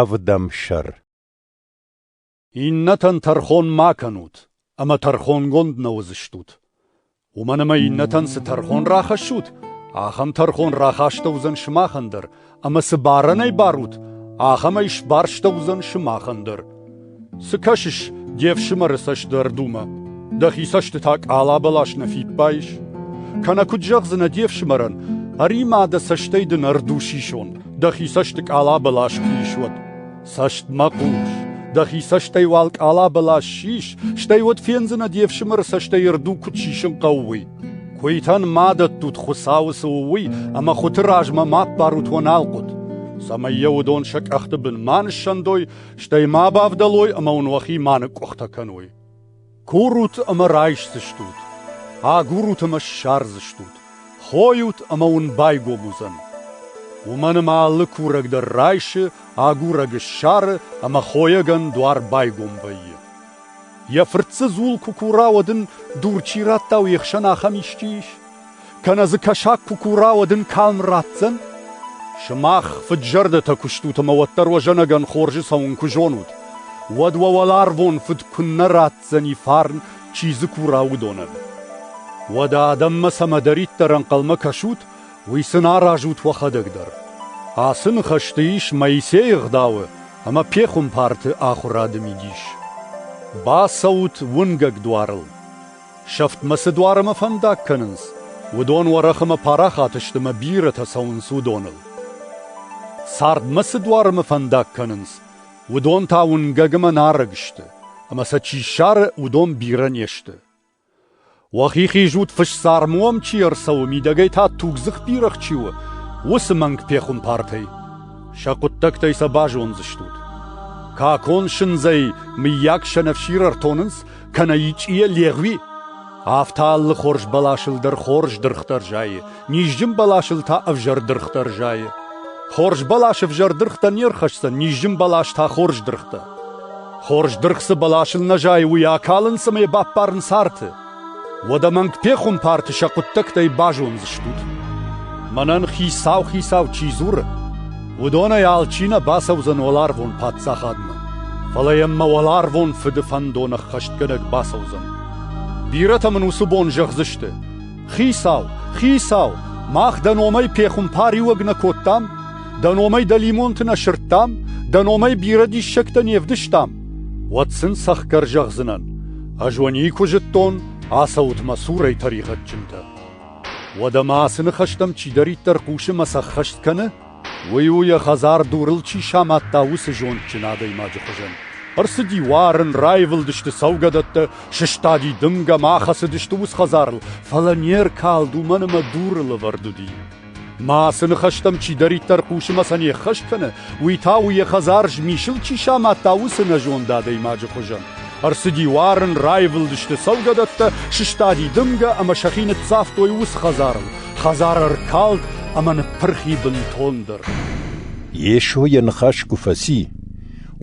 Ӕвдӕмсӕр Иннӕтӕн тӕрхон ма кӕнут, ӕмӕ тӕрхонгонд нӕ уыдзыстут. Уымӕн ӕмӕ иннӕтӕн цы тӕрхон рахӕссут, ахӕм тӕрхон рахастӕуыдзӕн сымахӕн дӕр, ӕмӕ цы барӕнӕй барут, ахӕмӕй сбарстӕуыдзӕн сымахӕн дӕр. Цы кӕсыс де фсымӕры цӕстдардумӕ? Дӕхи цӕстытӕ къалабӕлас нӕ фиппайыс? Кӕнӕ куыд зӕгъдзынӕ де фсымӕрӕн, ӕримӕ дӕ цӕстӕй дын ӕрдусисон, дӕхи цӕсты къалабӕлас куы ис, уӕд? Цӕстмӕ хъус, дӕхи цӕстӕй уал къалабӕлас сис, стӕй уӕд фендзынӕ де фсымӕры цӕстӕй рду куыд сисын хъӕуы, уый. Куыйтӕн ма дӕттут Хуыцауы цы у, уый, ӕмӕ хуыты размӕ ма аппарут уӕ налхъуыт, цӕмӕй йӕ уыдон сӕ къӕхты бын ма ныссӕндой стӕй ма бавдӕлой ӕмӕ уын уӕхи ма ныкъкъуыхтӕ кӕной. Курут ӕмӕ райсдзыстут, агурут ӕмӕ ссардзыстут, хойут ӕмӕ уын байгом уыдзӕн. Уымӕн ӕмӕ алы курӕг дӕр райсы, агурӕг ссары ӕмӕ хойӕгӕн дуар байгом вӕййы. Йӕ фырт дзы дзул куы кура, уӕд ын дур чи радта, уе хсӕн ахӕм исчи ис? Кӕнӕ дзы кӕсаг куы кура, уӕд ын калм ратдзӕн? Сымах, фыд-зӕрдӕтӕ куыстут ӕмӕ уӕддӕр уӕ зӕнӕгӕн хорзы цӕуын куы зонут, уӕд уӕ уӕларвон Фыд куыннӕ ратдзӕни фарн, чи дзы кура, уыдонӕн. Уӕдӕ адӕммӕ цӕмӕдӕриддӕр ӕнхъӕлмӕ кӕсут, уый сын аразут уӕхӕдӕг дӕр. Ацы ныхӕсты ис Моисейы ӕгъдауы ӕмӕ пехуымпарты ахуырады мидис. Бацӕут уынгӕг дуарыл. Сӕфтмӕ цы дуармӕ фӕндаг кӕнынц, уыдон Уӕрӕхымӕ парахат сты мӕ бирӕтӕ цӕуынц уыдоныл. Цардмӕ цы дуармӕ фӕндаг кӕнынц, уыдон та уынгӕгмӕ нарӕг сты, ӕмӕ сӕ чи ссары, уыдон бирӕ не сты. Уӕхи хизут фысцармы уӕм чи ӕрцӕуы, мидӕгӕй та тугдзых бирӕгъ чи у, уыцы мӕнг пехуымпартӕй. Сӕ хъуыддӕгтӕй сӕ базондзыстут. Какон сындзӕй, мыййаг, сӕнӕфсир ӕртонынц, кӕнӕ ичъийӕ легъуи, афтӕ алы хорз бӕласыл дӕр хорз дыргътӕ рзайы, низджын бӕласыл та ӕвзӕр дыргътӕ рзайы. Хорз бӕлас ӕвзӕр дыргътӕ не рхӕсдзӕн, низджын бӕлас та хорз дыргътӕ. Хорз дыргъ цы бӕласыл нӕ зайы, уый акалынц ӕмӕ баппарынц арты. Уӕдӕ мӕнг пехуымпарты сӕ хъуыддӕгтӕй базондзыстут. Мӕнӕн хицау-хицау чи дзуры, Уыдонӕй алчи нӕ бацӕудзӕн уӕларвон паддзахадмӕ, фӕлӕ йӕм мӕ уӕларвон фыды фӕндон ӕххӕстгӕнӕг бацӕудзӕн. Бирӕтӕ мын уыцы бон зӕгъдзысты: «Хицау, хицау, мах дӕ номӕй пехуымпариуӕг нӕ кодтам, дӕ номӕй дӕлимонты нӕ сырдтам, дӕ номӕй бирӕ диссӕгтӕ не вдыстам». Уӕд сын цӕхгӕр зӕгъдзынӕн: «Ӕз уӕ никуы зыдтон, ацӕут мӕ цурӕй тӕригъӕдджынтӕ». Уӕдӕ ма ацы ныхӕстӕм чидӕриддӕр хъусы мӕ цы ӕххӕст кӕны, уый у, йӕ хӕдзар дурыл чи самадта, уыцы зондджын адӕймаджы хуызӕн. Ӕрцыди уарын, раивылдысты цӕугӕдӕттӕ, сыстади дымгӕ мӕ ахӕцыдысты ус хӕдзарыл, фӕлӕ не ркалд, уымӕн ӕмӕ дуры лӕвӕрд уыди. Мӕ ацы ныхӕстӕм чидӕриддӕр хъусы мӕ сӕ не ххӕст кӕны, уый та у, йӕ хӕдзар змисыл чи самадта, уыцы нӕзонд адӕймаджы хуызӕн. Ӕрцыди уарын, раивылдысты цӕугӕдӕттӕ, сыстади дымгӕ ӕмӕ сӕхи ныццавтой уыцы хӕдзарыл. Хӕдзар ӕркалд ӕмӕ ныппырхи бынтондӕр. Йесо йӕ ныхас куы фӕци,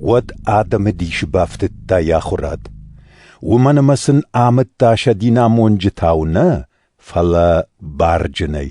уӕд адӕмы дисы бафтыдта йӕ ахуырад. Уымӕн ӕмӕ сын амыдта сӕ динамонджытау нӕ, фӕлӕ барджынӕй.